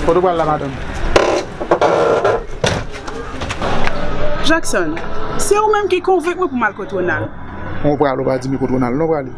Kote w pral la madanm? Jackson, se ou menm ki konvenk mwen pou m al kot Ronald. Ou pral ou pa di m kot Ronald non prale.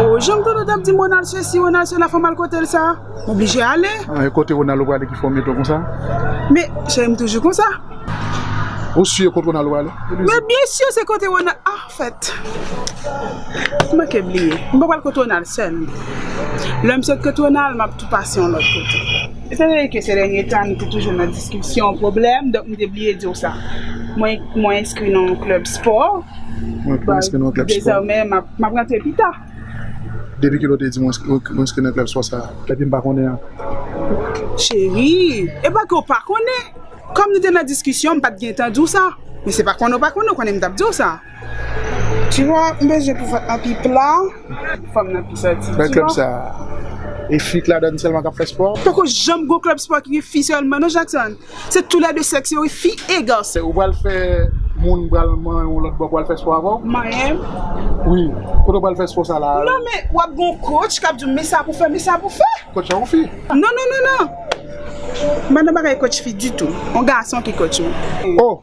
Oh, jan m tande w t ap di m Ronald sesi, Ronald sela fò m al kote l sa? Ou blije ale. E kote Ronaldo prale ki fè w mete w konsa? Men, cheri m toujou konsa. Ou si e kot Ronaldo prale? Men byen si se kote Ronaldo, ah fèt. M manke bliye. M pa pral kot Ronaldo sèl. Lè m sot kot Ronaldo, m ap tou pase yon lòt kote. Etan done ke sè dènye tan nou te toujou nan diskisyon, pwoblèm, donk m te bliye di w sa. Mwen enskri nan yon klèb spò. Mwen enskri nan yon klèb spò. Dezòmè, m ap rantre pita. Depi kilè w te di m w enskri nan klèb spò sa? Epi m pa konnen an? Cherie, e pa ke w pa konnen. Kòm nou te nan diskisyon, m pa t gen tan di w sa. Men se pa konnen w pa konnen, w konnen m t ap di w sa. Tu vois, m bezwen pou vant lan pi pla, pou fanm nan pi santi, tu vois. Nan klèb sa, e fi k ladann sèlman k ap fè spò? Poko janm gen yon klèb spò ki gen fi sèlman non Jackson. Se tou lè 2 sèks yo wi fi e gason. Ou pral fè moun pral manyen w lòt bò pou al fè spò avè w? Manyen m? Wi, kote w pral fè spò sa la? Non men wap gen yon coach kap di w men sa pou fè men sa pou fè. Coach an yon fi? Non non non non. M pa nan bagay coach fi ditou. Yon gason ki coach mwen. Oh!